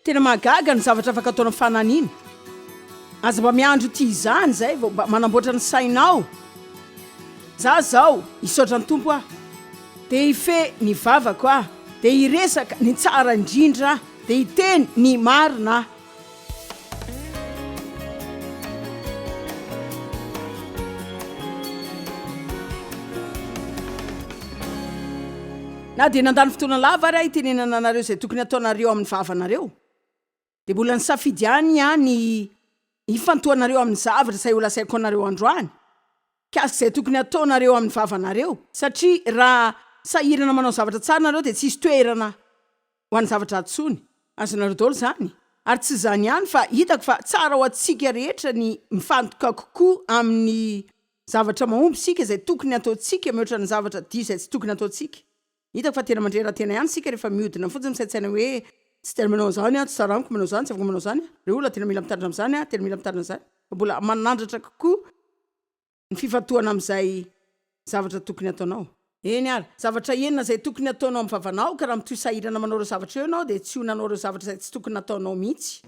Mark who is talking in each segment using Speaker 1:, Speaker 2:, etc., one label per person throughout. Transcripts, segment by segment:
Speaker 1: tena mahagaga ny zavatra afaka ataona fananiana aza mba miandro ity izany zay vao mba manamboatra ny sainao za zao hisaotra ny tompo aho de hife ny vavako aho de hiresaka ny tsara indrindra de hiteny ny marina Na dia nandany fotoana lava ary aho hitenenana anareo izay tokony hataonareo amin'ny vavanareo, dia mbola nisafidy ihany aho ny hifantohanareo amin'ny zavatra izay holazaiko anareo androany. Mikasika izay tokony hataonareo amin'ny vavanareo, satria raha sahirana manao zavatra tsara nareo dia tsisy toerana ho an'ny zavatra ratsy tsony. Azonareo daholo izany. Ary tsy izany ihany fa hitako fa tsara ho antsika rehetra ny mifantoka kokoa amin'ny zavatra mahomby isika, izay tokony hataontsika mihoatra ny zavatra diso izay tsy tokony hataontsika. Hitako fa tena mandre ra-tena ihany isika rehefa mihodina fotsiny ny saintsaina hoe, Tsy tena manao an'izany aho, tsy tsara amiko manao izany, tsy afaka manao izany aho. Ireo olona tena mila mitandrina amin'izany, tena mila mitandrina izany, fa mbola manandratra kokoa. ny fifantohana amin'izay zavatra tokony ataonao. Eny ary, zavatra enina izay tokony ataonao amin'ny vavanao, ka raha mitohy sahirana manao ireo zavatra ireo ianao, dia tsy ho nanao ireo zavatra izay tsy tokony nataonao mihitsy.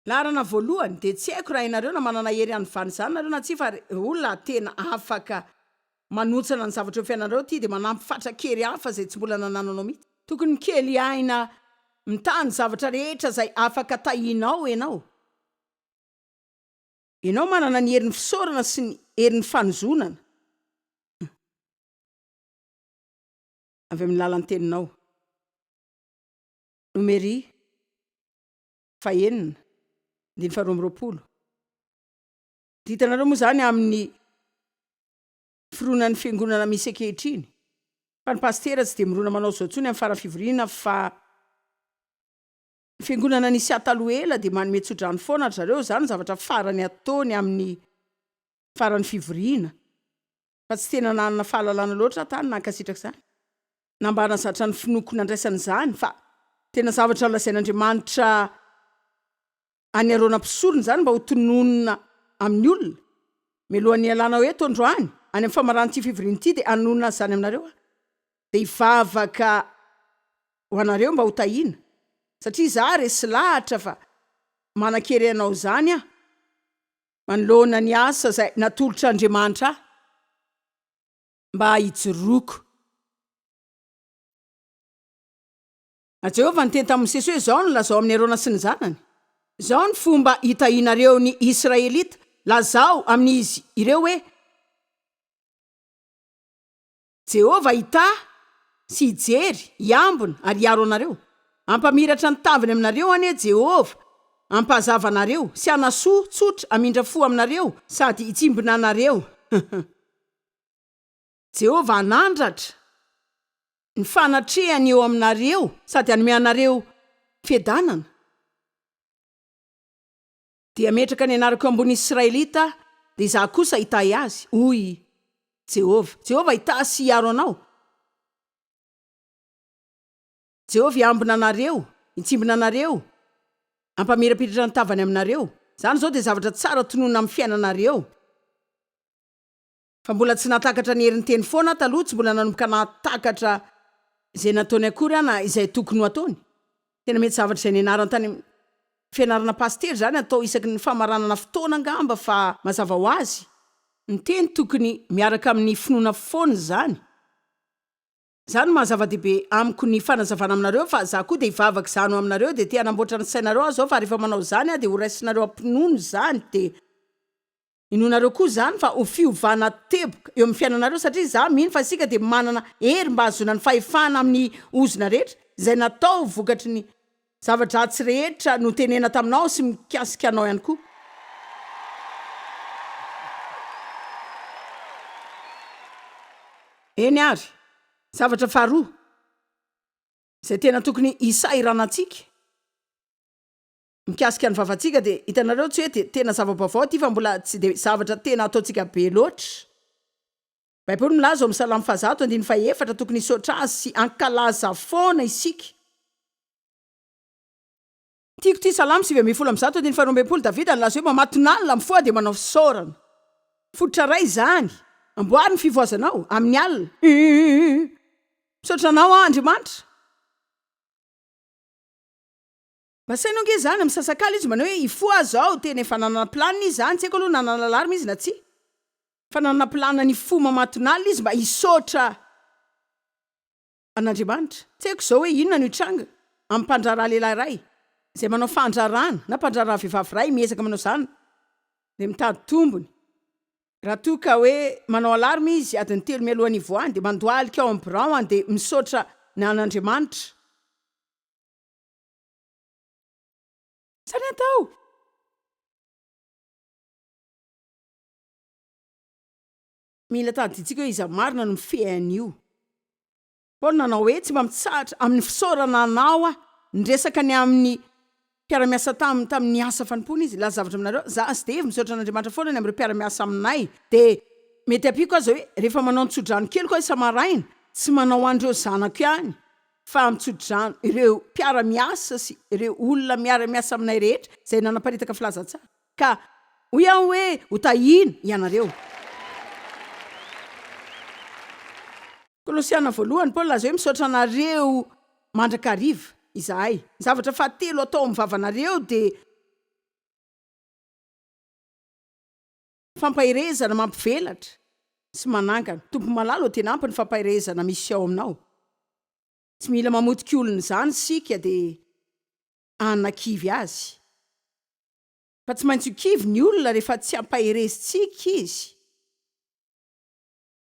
Speaker 1: Laharana voalohany, dia tsy haiko raha ianareo na manana hery hanovana izany nareo na tsia, fa ry olona tena afaka manontsana ny zavatra eo fiainanareo ity dia manampy fatra-kery hafa izay tsy mbola nanananao mihitsy. Tokony mikely aina mitaha ny zavatra rehetra izay afaka tahinao ianao. Ianao manana ny herin'ny fisaorana sy ny herin'ny fanozonana avy amin'ny lalan-teninao. Nomery fahenina, andininy faharoa amby roapolo. Dia hitanareo moa izany amin'ny fironan'ny fiangonana misy ankehitriny, fa ny pasitera tsy dia mirona manao izao intsony amin'ny faran'ny fivoriana fa Fiangonana Nisia taloha ela dia manome tsodrano foana ry zareo, izany no zavatra farany ataony amin'ny faran'ny fivoriana, fa tsy tena nanana fahalalana loatra aho tany nankasitraka izany, na mba hanazatra ny finoako nandraisana izany, fa tena zavatra nolazain'Andriamanitra an'i Arona mpisorona izany mba ho tononina amin'ny olona. Mialohan'ny hialanao eto androany, any amin'ny famaran'ity fivoriana ity dia hanonona izany aminareo aho. Dia hivavaka ho anareo mba ho tahiana, satria izaho resy lahatra fa manan-kery hanao izany aho, manoloana ny asa izay natolotr'Andriamanitra ahy mba hijoroako. A Jehovah niteny tamin'i Mosesy hoe, Izao no lazao amin'i Arona sy ny zanany, Izao no fomba hitahianareo ny Israelita, lazao amin'izy ireo hoe, Jehovah hitahy sy hijery, hiambina ary hiaro anareo. Hampamiratra ny taviny aminareo anie Jehovah, hampazava anareo sy hanasoa tsotra hamindra fo aminareo sady hitsimbina anareo. Jehovah hanandratra ny fanatrehany eo aminareo sady hanome anareo fiadanana. Dia ametraka ny anarako eo ambonin'ny Israelita, dia izaho kosa hitahy azy, hoy i Jehovah. Jehovah hitahy sy hiaro anao. Jehovah hiambina anareo, hitsimbina anareo, hampamirapiratra ny tavany aminareo. Izany izao dia zavatra tsara tononina amin'ny fiainanareo. Fa mbola tsy nahatakatra ny herin-teny foana aho taloha, tsy mbola nanomboka nahatakatra izay nataony akory aho na izay tokony ho ataony. Tena mety zavatra izay nianarany tany amin'ny fianarana pasitera izany, atao isaky ny famaranana fotoana angamba fa mazava ho azy, ny teny tokony miaraka amin'ny finoana foana izany, izany no maha-zava-dehibe amiko ny fanazavana aminareo fa izaho koa dia hivavaka izany ho aminareo dia te-hanamboatra ny sainareo aho izao fa rehefa manao izany aho dia horaisinareo am-pinoana izany dia Inoanareo koa izany fa ho fiovana teboka eo amin'ny fiainanareo satria izaho mino fa isika dia manana hery mba hahazoana ny fahefana amin'ny ozona rehetra izay natao vokatry ny zava-dratsy rehetra notenena taminao sy mikasika anao ihany koa. Eny ary, zavatra faharoa izay tena tokony hisahirana antsika, Mikasika ny vavantsika dia hitanareo tsy hoe dia tena zava-baovao ity fa mbola tsy dia zavatra tena ataontsika be loatra. Baiboly milaza ao amin'ny Salamo fahazato andininy fahefatra tokony hisaotra Azy sy hankalaza foana isika. Tiako ity Salamo sivy ambin'ny folo amby zato andininy faharoa ambin'ny folo, Davida nilaza hoe mamatonalina mifoha dia manao fisaorana. Fototra iray izany. Amboary ny fivoazanao, amin'ny alina. Misaotra Anao aho Andriamanitra. Asainy ange izany, misasakala izy manao hoe hifoha aza aho, tena efa nanana plan izy izany, tsy haiko aloha nanana alarme izy na tsia, fa nanana plan ny hifoha mamatonalina izy mba hisaotra an'Andriamanitra, tsy haiko izao hoe inona no hitranga amin'ny mpandraharaha lehilahy iray izay manao fandraharahana na mpandraharaha vehivavy iray miezaka manao izany dia mitady tombony, raha toa ka hoe manao alarme izy adiny telo mialoha ny hivoahany dia mandohalika ao amin'ny birao-any dia misaotra ny an'Andriamanitra. Sa ny atao? Mila tadidiantsika hoe iza marina no mifehy an'io. Paoly nanao hoe, Tsy mba mitsahatra amin'ny fisaorana anao aho. Niresaka ny amin'ny mpiara-miasa taminy tamin'ny asa fanompoana izy. Hilaza zavatra aminareo aho. Izaho sy Dave misaotra an'Andriamanitra foana ny amin'ireo mpiara-miasa aminay. Dia mety ampiako aza hoe, rehefa manao ny tso-drano keliko aho isa-maraina, tsy manao an'ireo zanako ihany fa amin'ny tsodrano ireo mpiara-miasa sy ireo olona miara-miasa aminay rehetra izay nanaparitaka filazantsara, ka hoy aho hoe hotahiana ianareo. Kolosiana voalohany, Paoly nilaza hoe, Misaotra anareo mandrakariva izahay. Ny zavatra fahatelo atao amin'ny vavanareo dia. Fampaherezana mampivelatra sy manangana. Tompo malala ô tena ampy ny fampaherezana misy ao aminao. Tsy mila mamotika olona izany isika dia hanakivy azy. Fa tsy maintsy ho kivy ny olona rehefa tsy ampaherezintsika izy.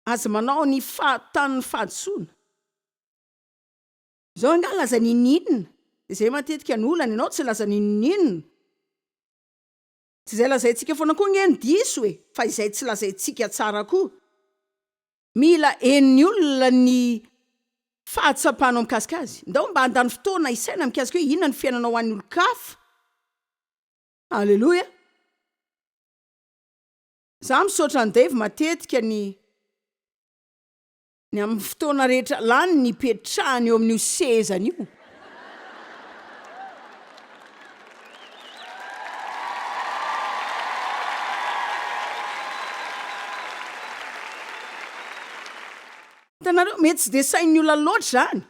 Speaker 1: Aza manao ny fahatanin'ny fahadisoana. Izao angaha laza n'inon'inona, dia izay matetika no olana, ianao tsy laza n'inon'inona. Tsy izay lazaintsika foana koa nge no diso e, fa izay tsy lazaintsika tsara koa. Mila henon'ny olona ny fahatsapanao mikasika azy. Ndao mba handany fotoana hisaina mikasika hoe inona ny fiainanao ho an'ny olon-kafa. Aleloia. Za misaotra an'i Dave matetika ny. Ny amin'ny fotoana rehetra lany nipetrahany eo amin'io sezany io. Hitanareo, mety tsy dia sain'ny olona loatra izany.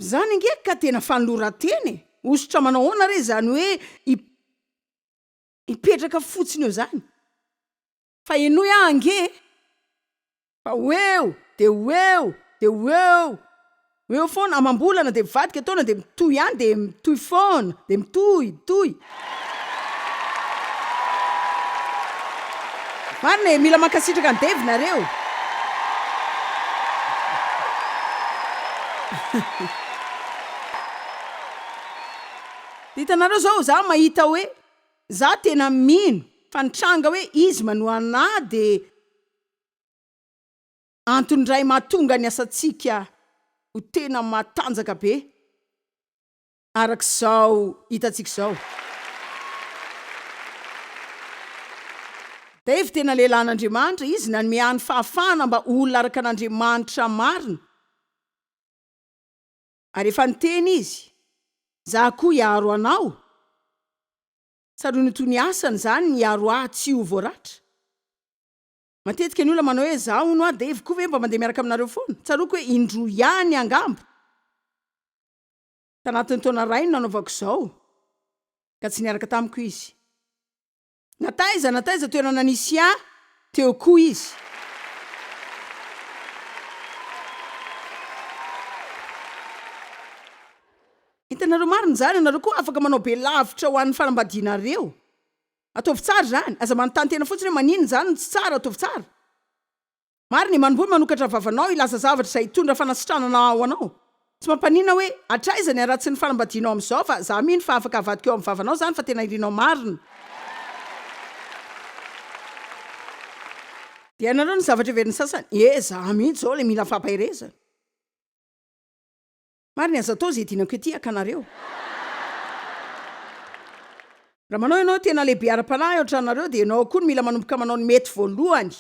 Speaker 1: Izany ange ka tena fanoloran-tena e! Hosotra manao ahoana re izany hoe hipetraka fotsiny eo izany? Fa henoy aho ange e! Fa ho eo dia ho eo dia ho eo ho eo foana amam-bolana dia mivadika taona dia mitohy ihany dia mitohy foana dia mitohy mitohy Marina e, mila mankasitraka an'i Dave nareo. Dia hitanareo zao za mahita hoe Za tena mino fa ny tranga hoe izy manohana ahy dia antony iray mahatonga ny asantsika ho tena matanjaka be araka izao hitantsika izao. Dave tena lehilahin'Andriamanitra, izy nanome ahy ny fahafahana mba ho olona araka an'Andriamanitra marina. Ary efa niteny izy, Za koa hiaro anao. Tsaroany toy ny asany izany ny hiaro ahy tsy ho voaratra. Matetika ny olona manao hoe, Za hono a, Dave koa ve mba mandeha miaraka aminareo foana? Tsaroako hoe indroa ihany angamba tanatin'ny taona iray no nanaovako izao, ka tsy niaraka tamiko izy. Na taiza na taiza toerana nisy ahy, teo koa izy. Hitanareo marina izany? Ianareo koa afaka manao be lavitra ho an'ny fanambadianareo. Ataovy tsara izany. Aza manontany tena fotsiny hoe maninona izany no tsy tsara, ataovy tsara. Marina e, manomboha manokatra vavanao hilaza zavatra izay hitondra fanasitranana ho anao. Tsy mampaninona hoe hatraiza ny haratsin'ny fanambadianao amin'izao fa za mino fa afaka havadika eo amin'ny vavanao izany fa tena irinao marina. Dia ianareo ny zavatra heverin'ny sasany, ee za mihitsy izao ilay mila fampaherezana. Marina, aza atao izay dinako ety haka anareo. Raha manao ianao tena lehibe ara-panahy ao an-tranonareo dia ianao koa no mila manomboka manao ny mety voalohany.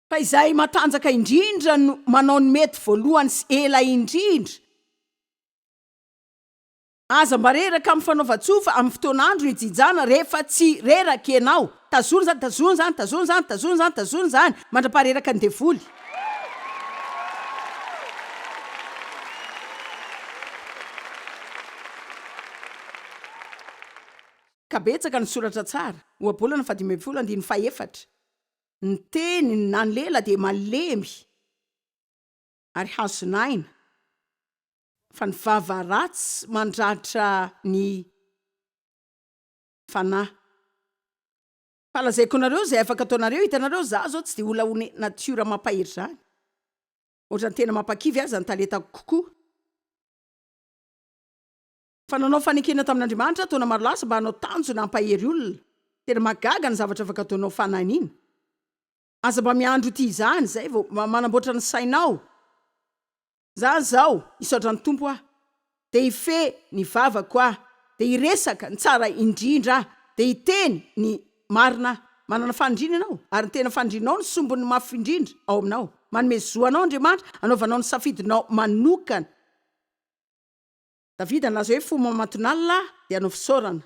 Speaker 1: Fa izay matanjaka indrindra no manao ny mety voalohany sy ela indrindra. Aza mba reraka amin'ny fanaovan-tsofa amin'ny fotoan'andro hijinjana rehefa tsy reraka ianao. Tazony izany, tazony izany, tazony izany, tazony izany, tazony izany, mandra-pahareraka ny devoly. Ka betsaka ny soratra tsara, Ohabolana faha dimy ambin'ny folo andininy faha efatra, Ny teny na ny lela dia malemy ary hazon'aina. Fa ny vava ratsy mandratra ny fanahy. Fa lazaiko anareo izay afaka ataonareo, hitanareo za zao tsy dia olona ho ne nature mampahery zany, ohatrany tena mampakivy aza ny talentako kokoa, fa nanao fanekena tamin'Andriamanitra taona maro lasa mba hanao tanjona hampahery olona, tena mahagaga ny zavatra afaka ataonao fanahiniana, aza mba miandry ho tia izany, zay vao manamboatra ny sainao. Za zao hisaotra ny Tompo aho de hifehy ny vavako aho de hiresaka ny tsara indrindra aho de hiteny ny marina aho. Manana fanindrina ianao ary ny tena fanindrinao no sombin'ny mafy indrindra ao aminao. Manome zo anao Andriamanitra hanaovanao ny safidinao manokana. Davida nilaza hoe fo mamatonalina aho de hanao fisaorana.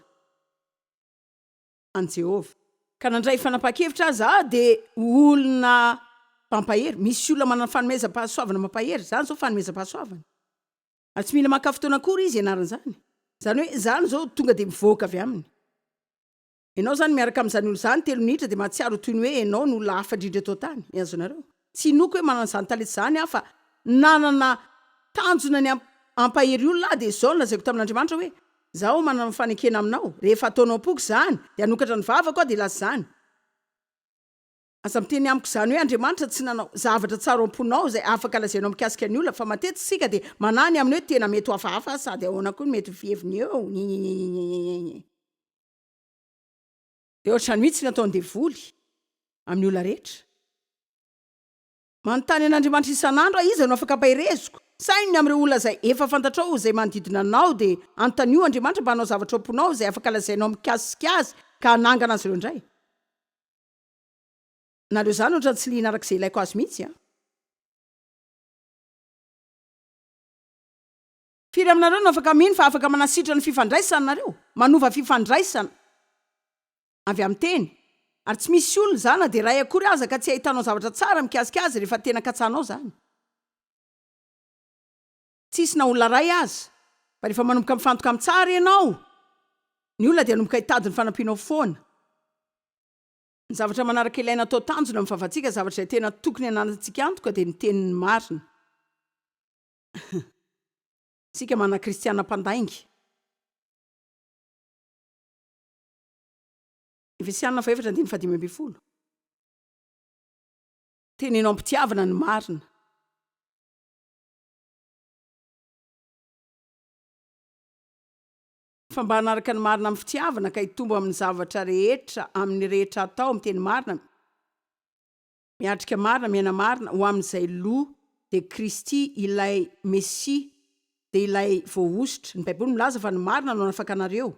Speaker 1: an'i Jehovah. Ka na handray fanapahan-kevitra aza aho dia ho olona mpampahery. Misy olona manana fanomezam-pahasoavana mampahery. Izany izao fanomezam-pahasoavana. Ary tsy mila maka fotoana akory izy hianarana izany. Izany hoe izany izao tonga dia mivoaka avy aminy. Ianao izany miaraka amin'izany olona izany telo minitra dia mahatsiaro ho toy ny hoe ianao no olona hafa indrindra eto an-tany. Azonareo? Tsy inoako hoe manana izany talenta izany aho fa nanana tanjona ny hampahery olona aho dia izao no lazaiko tamin'Andriamanitra hoe, Izaho manana fanekena aminao, rehefa ataonao am-poko izany dia hanokatra ny vavako aho dia hilaza izany. Aza miteny amiko izany hoe Andriamanitra tsy nanao zavatra tsara ao am-ponao izay afaka lazainao mikasika ny olona fa matetika isika dia manahy ny amin'ny hoe tena mety ho hafahafa aho sady ahoana koa no mety ho fiheviny eo. Dia ohatr'izany mihitsy ny ataon'ny devoly amin'ny olona rehetra. Manontany an'Andriamanitra isan'andro aho, Iza no afaka ampahereziko? Saino ny amin'ireo olona izay efa fantatrao izay manodidina anao, dia anontanio Andriamanitra mba hanao zavatra ao am-ponao izay afaka lazainao mikasika Azy ka hanangana azy ireo indray. Na aleo izany ohatrany tsy liana araka izay ilaiko azy mihitsy aho. Firy aminareo no afaka mino fa afaka manasitrana ny fifandraisana nareo? Manova fifandraisana avy amin'ny teny. Ary tsy misy olona, za na dia iray akory aza, ka tsy hahitanao zavatra tsara mikasika azy rehefa tena katsahanao izany. Tsisy na olona iray aza. Fa rehefa manomboka mifantoka amin'ny tsara ianao, ny olona dia hanomboka hitady ny fanampianao foana. Ny zavatra manaraka ilaina atao tanjona amin'ny fahafahantsika, zavatra izay tena tokony hananantsika antoka, dia ny teny marina. Isika manana kristiana mpandainga. Efesiana fahefatra andininy fahadimy ambin'ny folo. Teneno am-pitiavana ny marina. Fa mba hanaraka ny marina amin'ny fitiavana ka hitombo amin'ny zavatra rehetra amin'ny rehetra atao amin'ny teny marina, Miatrika marina, miaina marina ho amin'izay lo dia Kristy ilay Mesia dia ilay voahosotra. Ny Baiboly milaza fa ny marina no hanafaka anareo.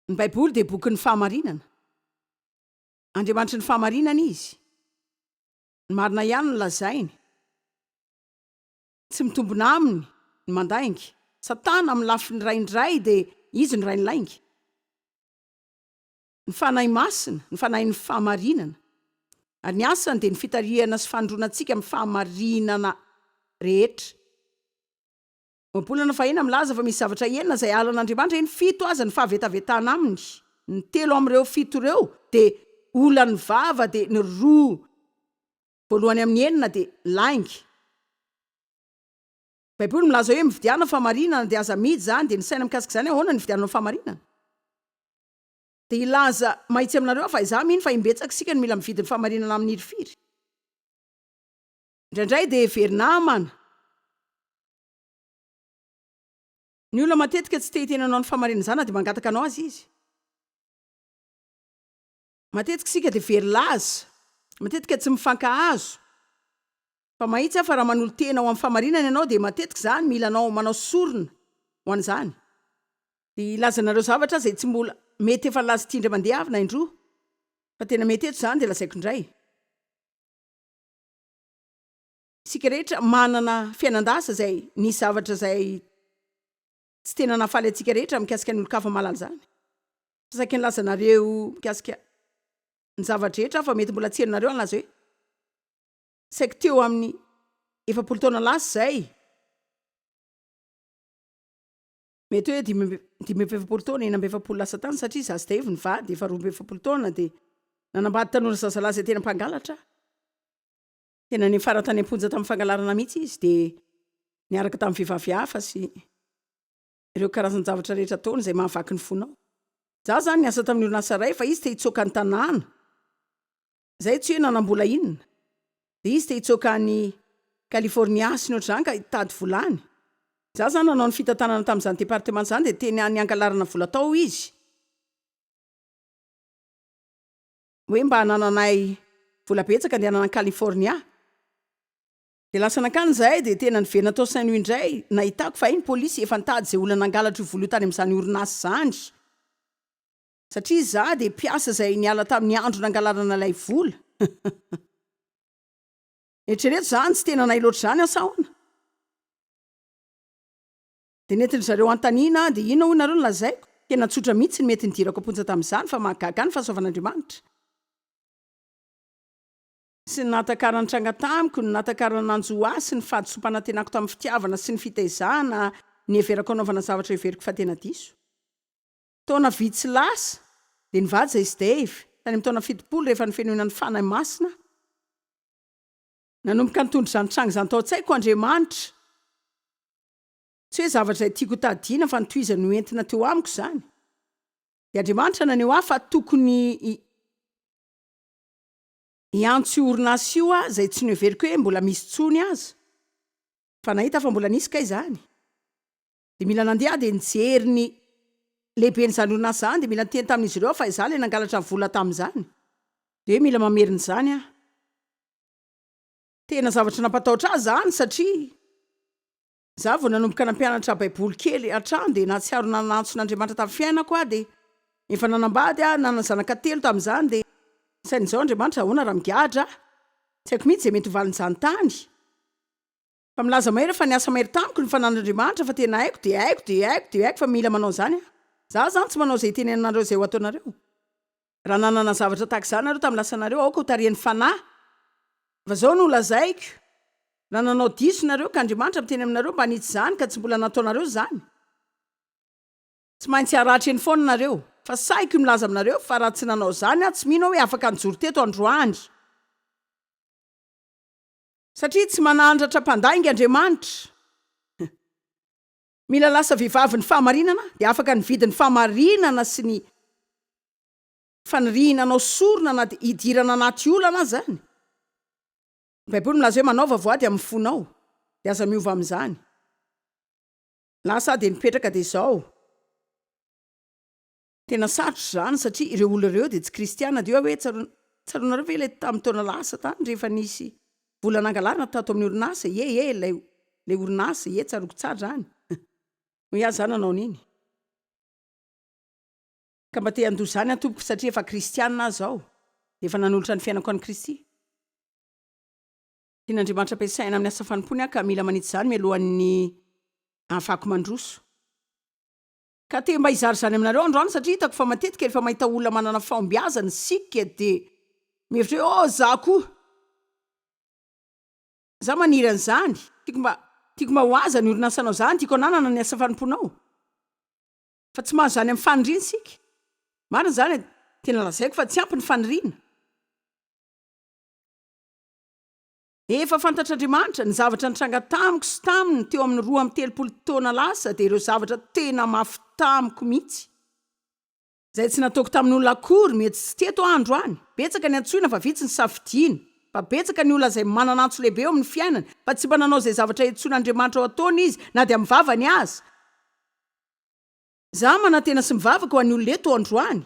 Speaker 1: Ny Baiboly dia bokin'ny fahamarinana. Andriamanitry ny fahamarinana Izy. Ny marina ihany no lazainy. Tsy mitombina aminy ny mandainga. Satana amin'ny lafiny iray indray dia izy no rain'ny lainga. ny Fanahy Masina, ny Fanahin'ny fahamarinana, ary ny asany dia ny fitarihana sy fanondroana antsika amin'ny fahamarinana rehetra. Ohabolana fahina milaza fa misy zavatra enina izay halan'Andriamanitra, eny, fito aza ny fahavetavetana aminy. Ny telo amin'ireo fito ireo dia olan'ny vava, dia ny roa voalohany amin'ny enina dia lainga. Ny Baiboly milaza hoe mividiana fahamarinana, dia aza amidy izany, dia ny saina mikasika izany ahoana ny nividiananao fahamarinana? Dia hilaza mahitsy aminareo aho fa izaho mino fa imbetsaka isika no mila mividy ny fahamarinana amin'iry firy. Indraindray dia heverinamana. Ny olona matetika tsy te hiteny anao ny fahamarinana izany na dia mangataka anao aza izy. Matetika isika dia very laza. Matetika tsy mifankahazo. Fa mahitsy aho fa raha manolo-tena ho amin'ny fahamarinana ianao dia matetika izaho no mila anao manao sorona ho an'izany. Dia hilaza anareo zavatra aho izay tsy mbola mety efa nilaza ity indray mandeha avy na indroa fa tena mety eto izany dia lazaiko indray. Isika rehetra manana fiainan-dasa izay nisy zavatra izay tsy tena nahafaly antsika rehetra mikasika ny olon-kafa mahalala izany. Fa saika nilaza anareo mikasika ny zava-drehetra aho fa mety mbola tsy henonareo hanlaza hoe. Saiky teo amin'ny efapolo taona lasa izay, mety hoe dimy amby dimy amby efapolo taona, enina amby efapolo lasa tany, satria izaho sy Dave nivady efa roa amby efapolo taona dia nanambady tanora zazalahy izay tena mpangalatra aho. Tena niafara tany am-ponja tamin'ny fangalarana mihitsy izy dia niaraka tamin'ny vehivavy hafa sy ireo karazan-javatra rehetra ataony izay mahavaky ny fonao. Izaho izany niasa tamin'ny orinasa iray fa izy te-hitsoaka an-tanàna. Izay tsy hoe nanam-bola inona, dia izy te hitsoaka any California sy ny ohatr'izany ka hitady vola any. Izaho izany nanao ny fitantanana tamin'izany département izany dia teny any hangalarana vola tao izy, hoe mba hanananay vola betsaka handehanana any California. Dia lasa nankany izahay dia tena niverina tao Saint Louis indray, nahitako fa hay ny polisy efa nitady izay olona nangalatra io vola io tany amin'izany orinasa izany. Satria izaho dia mpiasa izay niala tamin'ny andro nangalarana ilay vola. Eritrereto izany, tsy tena nahay loatra izany asa ahoana? Dia nentin-dry zareo hanontaniana aho, dia inona hoy nareo no lazaiko? Tena tsotra mihitsy ny mety nidirako am-ponja tamin'izany, fa mahagaga ny fahasoavan'Andriamanitra. Tsy ny nahatakarany tranga tamiko, ny nahatakarany nanjo ahy sy ny fahadisoam-panantenako tamin'ny fitiavana sy ny fitaizana niheverako hanaovana zavatra heveriko fa tena diso. Taona vitsy lasa, dia nivaja izy Dave, tany amin'ny taona fitopolo, rehefa nofenoina ny Fanahy Masina. Nanomboka nitondra izany tranga izany tao an-tsaiko, Andriamanitra, tsy hoe zavatra izay tiako hotadidiana, fa ny tohizany no entina teo amiko izany. Dia Andriamanitra naneho ahy fa tokony hi, hiantso io orinasa io aho, izay tsy noheveriko hoe mbola misy intsony aza. Fa nahita aho fa mbola nisy kay izany. Dia mila nandeha aho dia nijery ny lehiben'izany orinasa izany dia mila niteny tamin'izy ireo aho fa izaho ilay nangalatra ny vola tamin'izany. Dia hoe mila mamerina izany aho. Tena zavatra nampatahotra ahy izany satria izaho vao nanomboka nampianatra Baiboly kely hatrany dia nahatsiaro nanantso ny Andriamanitra tamin'ny fiainako aho dia efa nanambady aho, nanana zanaka telo tamin'izany dia sain'izao Andriamanitra ahoana raha migadra aho? Tsy haiko mihitsy izay mety ho valin'izany tany. Fa milaza mahery fa niasa mahery tamiko ny fananan'Andriamanitra fa tena haiko dia haiko dia haiko dia haiko fa mila manao izany aho. Za zany tsy manao izay itenenanareo izay ho ataonareo. Raha nanana zavatra tahaka izany nareo tamin'ny lasanareo aoka ho tarihan'ny Fanahy fa zao no lazaiko, raha nanao diso nareo ka Andriamanitra miteny aminareo mba hanitsy izany ka tsy mbola nataonareo izany, tsy maintsy haratra eny foana nareo. Fa sahiko ny milaza aminareo fa raha tsy nanao izany aho tsy mino aho hoe afaka nijoro teto androany. Satria tsy manandratra mpandainga Andriamanitra. Mila lasa vehivavy ny fahamarinana dia afaka nividy ny fahamarinana sy ny faniriana hanao sorona na dia hidirana anaty olana aza ny Baiboly milaza hoe manaova voady amin'ny fonao dia aza miova amin'izany. Lasa aho dia nipetraka dia izao. Tena sarotra izany satria ireo olona ireo dia tsy kristiana dia hoe tsaroana tsaroanareo ve ilay tamin'ny taona lasa tany rehefa nisy vola nangalarina tato amin'ny orinasa ie ie ilay ilay orinasa ie tsaroako tsara izany hoy aho za nanao an'iny ka mba te handoa izany aho tompoko satria efa kristiana aho izao dia efa nanolotra ny fiainako an'i Kristy tian'Andriamanitra ampiasaina amin'ny asa fanompoany aho ka mila manitsy izany mialohan'ny ahafahako mandroso. Ka te mba hizara izany aminareo androany satria hitako fa matetika rehefa mahita olona manana fahombiazana isika dia mieritreritra hoe oh za koa za maniry an'izany, tiako mba tiako mba ho aza ny orinasanao zany, tiako hananana ny asa fanompoanao fa tsy mahazo izany amin'ny faniriana isika. Marina izany e! Tena lazaiko fa tsy ampy ny faniriana. Efa fantatr'Andriamanitra ny zavatra nitranga tamiko sy taminy teo amin'ny roa amby telopolo taona lasa dia ireo zavatra tena mafy tamiko mihitsy izay tsy nataoko tamin'olona akory mety tsy teto andro any. Betsaka ny antsoina fa vitsy ny safidiana. Fa betsaka ny olona izay manana antso lehibe eo amin'ny fiainany fa tsy mba nanao izay zavatra iantsoan'Andriamanitra ho ataony izy na dia amin'ny vavany aza. Za manantena sy mivavaka ho an'ny olona eto androany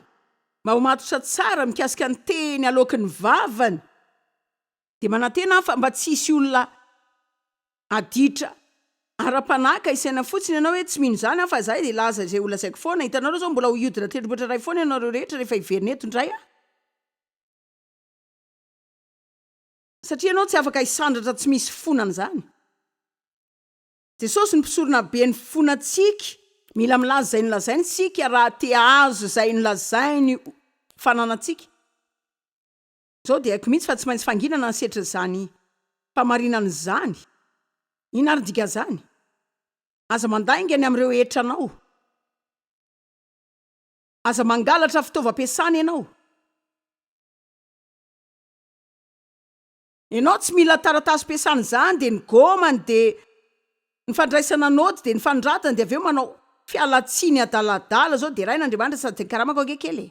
Speaker 1: mba ho matotra tsara mikasika ny teny aloaky ny vavany dia manantena aho fa mba tsy hisy olona aditra ara-panahy ka hisaina fotsiny ianao hoe tsy mino izany aho fa za dia laza izay holazaiko foana, hitanareo zao mbola ho hiodina tendrombohitra iray foana ianareo rehetra rehefa hiverina eto indray aho. Satria ianao tsy afaka hisandratra tsy misy fona an'izany. Jesosy no mpisorona be ny fon antsika, mila milaza izay nolazainy isika raha te ahazo izay nolazainy fananantsika. Izao dia haiko mihitsy fa tsy maintsy fanginana ny setrin'izany famarinana izany. Inona ary ny dikan'izany? Aza mandainga ny amin'ireo hetra anao. Aza mangalatra fitaovam-piasana ianao. Enao tsy mila taratasy piasana izany dia ny gômany dia ny fandraisana nôty dia ny fanoratana dia avy eo manao fialantsiny adaladala zao deraina Andriamanitra sady karamako ange kely e.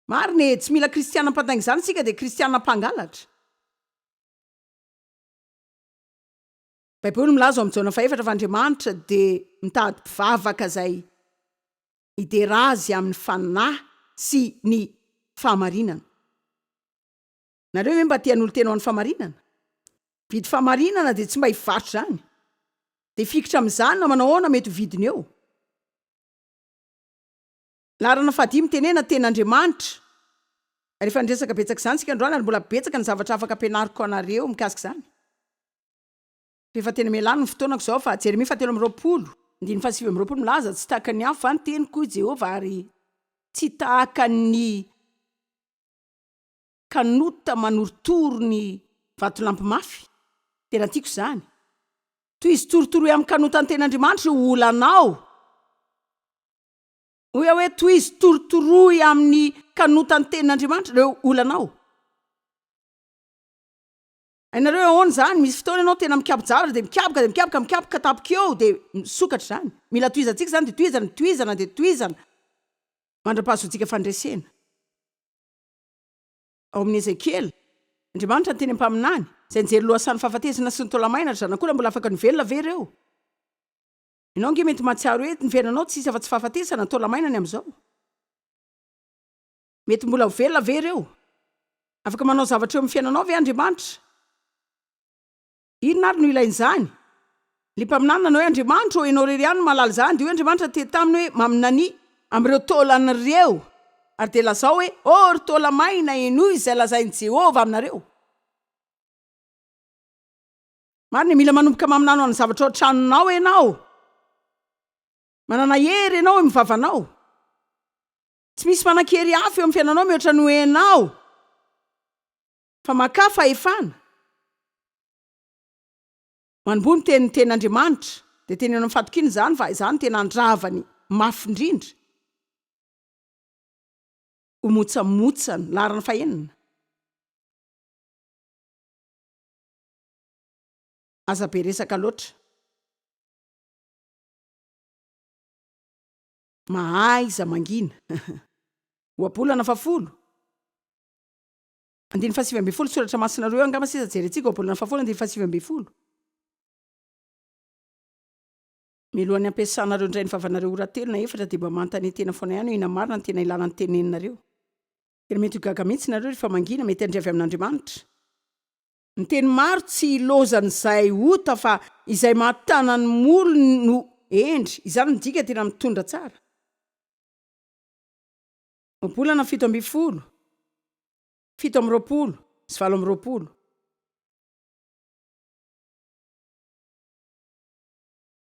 Speaker 1: Marina e, tsy mila kristiana mpandainga izany isika dia kristiana mpangalatra. Baiboly milaza ao amin'ny Jaona fahefatra fa Andriamanitra dia mitady mpivavaka izay hidera azy amin'ny fanahy sy ny fahamarinana. Nareo ve mba te hanolo-tena ho an'ny fahamarinana? Mividy fahamarinana dia tsy mba hivarotra izany. Dia hifikitra amin'izany na manao ahoana mety ho vidiny eo. Laharana fahadimy, Tenena tena Andriamanitra. Ary efa niresaka betsaka izany isika androany ary mbola betsaka ny zavatra afaka ampianariko anareo mikasika izany. Fa efa tena mialàny ny fotoanako izao fa Jeremia fahatelo amby roapolo, andininy fahasivy amby roapolo milaza, Tsy tahaka ny afo va ny teniko, hoy Jehovah, ary tsy tahaka ny. Kanota manorotoro ny vatolampy mafy, tena tiako izany. Tohizo torotoroy amin'ny kanota ny ten'Andriamanitra io olanao. Hoy aho hoe tohizo torotoroy amin'ny kanota ny ten'Andriamanitra ireo olanao. Hainareo ahoana izany? Misy fotoana ianao tena mikapoka zavatra dia mikapoka dia mikapoka mikapoka tapoka eo dia misokatra izany. Mila tohizantsika izany dia tohizana, tohizana dia tohizana mandra-pahazoantsika fandresena. Ao amin'ny Ezekiela, Andriamanitra niteny amin'ny mpaminany, izay nijery lohasahan'ny fahafatesana sy ny taolamaina, Ry zanak'o, raha mbola afaka ny velona ve ireo? Ianao ange mety mahatsiaro hoe ny fiainanao tsy hisy afa-tsy fahafatesana, taolamaina ny amin'izao. Mety mbola ho velona ve ireo? Afaka manao zavatra eo amin'ny fiainanao ve Andriamanitra? Inona ary no ilain'izany? Ilay mpaminany nanao hoe, Andriamanitro ô, Ianao irery ihany no mahalala izany. Dia hoy Andriamanitra tety taminy hoe, Maminania. Amin'ireo taolany ireo. Ary dia lazao hoe, Ô ry taola maina, henoy izay lazain'i Jehovah aminareo. Marina, mila manomboka maminany ho an'ny zavatra ao an-tranonao ianao. Manana hery ianao eo amin'ny vavanao. Tsy misy manan-kery hafa eo amin'ny fiainanao mihoatra noho ianao. Fa makà fahefana. Manomboha miteny ny teny Andriamanitra, dia teneno amin'ny fatokiana izany fa izany no tena andravany mafy indrindra. Ho motsamotsany, laharana fahenina. Aza be resaka loatra. Mahaiza mangina. Ohabolana fahafolo. Andininy fahasivy ambin'ny folo, soratra masina roa eo angamba sisa jerentsika, ohabolana fahafolo andininy fahasivy ambin'ny folo. Milohan'ny hampiasanareo indray ny vavanareo ora telo na efatra dia mba manontania tena foana ihany hoe inona marina no tena ilana ny teneninareo. Tena mety ho gaga mihitsy nareo rehefa mangina, mety handre avy amin'Andriamanitra. Ny teny maro tsy hilozan'izay ota fa izay mahatana ny molony no hendry, izany midika tena mitondra tsara. Volana fito ambin'ny folo, fito amby roapolo sy valo amby roapolo.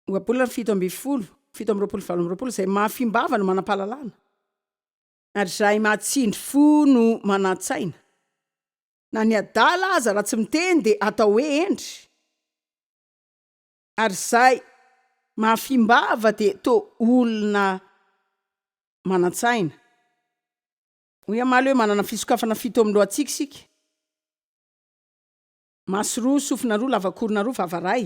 Speaker 1: Ohabolana fito ambin'ny folo, fito amby roapolo sy valo amby roapolo izay mahafimbava no manam-pahalalana ary izay mahatsindry fo no manan-tsaina. Na ny adala aza raha tsy miteny dia atao hoe hendry. Ary izay mahafimbava dia toa olona manan-tsaina. Hoy Amaly hoe manana fisokafana fito amin'ny lohantsika isika, maso roa, sofina roa, lavankorona roa, vava iray.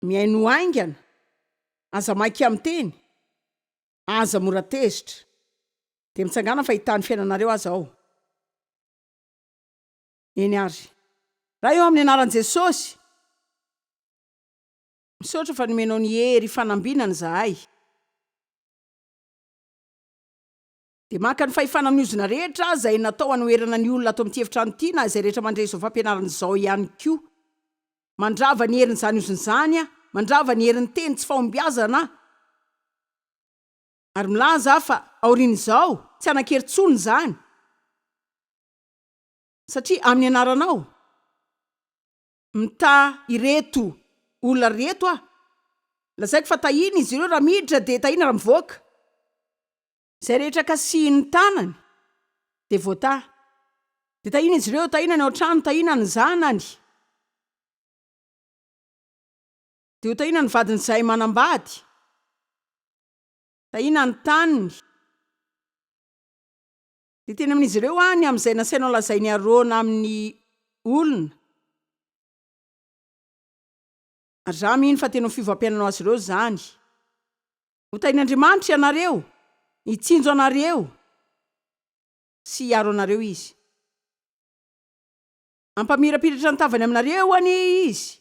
Speaker 1: Mihainoa haingana, aza maika miteny, aza mora tezitra. Dia mitsangàna fa hitaha ny fiainanareo aza aho. Eny ary. Raha eo amin'ny anaran'i Jesosy. Misaotra fa nomenao ny hery ifanambinana izahay. Dia maka ny fahefana amin'ny ozona rehetra izay natao hanoherana ny olona ato amin'ity efitrano ity na izay rehetra mandre izao fampianarana izao ihany koa. Mandrava ny herin'izany ozona izany aho, mandrava ny herin'ny teny tsy fahombiazana aho. Ary milaza aho fa, aorian'izao, tsy hanan-kery intsony izany. Satria amin'ny anaranao mitaha ireto olona ireto aho. Lazaiko fa tahiana izy ireo raha miditra dia tahiana raha mivoaka. Izay rehetra kasihin'ny tanany dia voataha. Dia tahiana izy ireo, tahiana ny ao an-trano, tahiana ny zanany. Dia ho tahiana ny vadin'izay manambady. Tahiana ny taniny. Dia teny amin'izy ireo aho ny amin'izay nasainao lazain'i Arona amin'ny olona. Ary izaho mino fa teny amin'ny fiovam-piainanao azy ireo izany. Hotahin'Andriamanitra ianareo, hitsinjo anareo sy hiaro anareo Izy. Hampamirapiratra ny tavany aminareo anie Izy,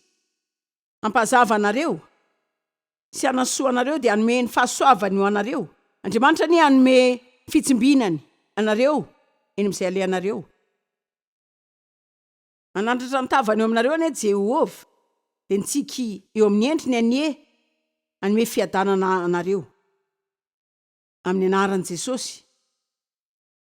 Speaker 1: hampazava anareo, sy hanasoa anareo, dia hanome ny fahasoavany ho anareo. Andriamanitra anie hanome fitsimbinany anareo eny amin'izay alehanareo. Hanandratra ny tavany eo aminareo anie Jehovah, dia ny tsiky eo amin'ny endriny anie hanome fiadanana anareo. Amin'ny anaran'i Jesosy.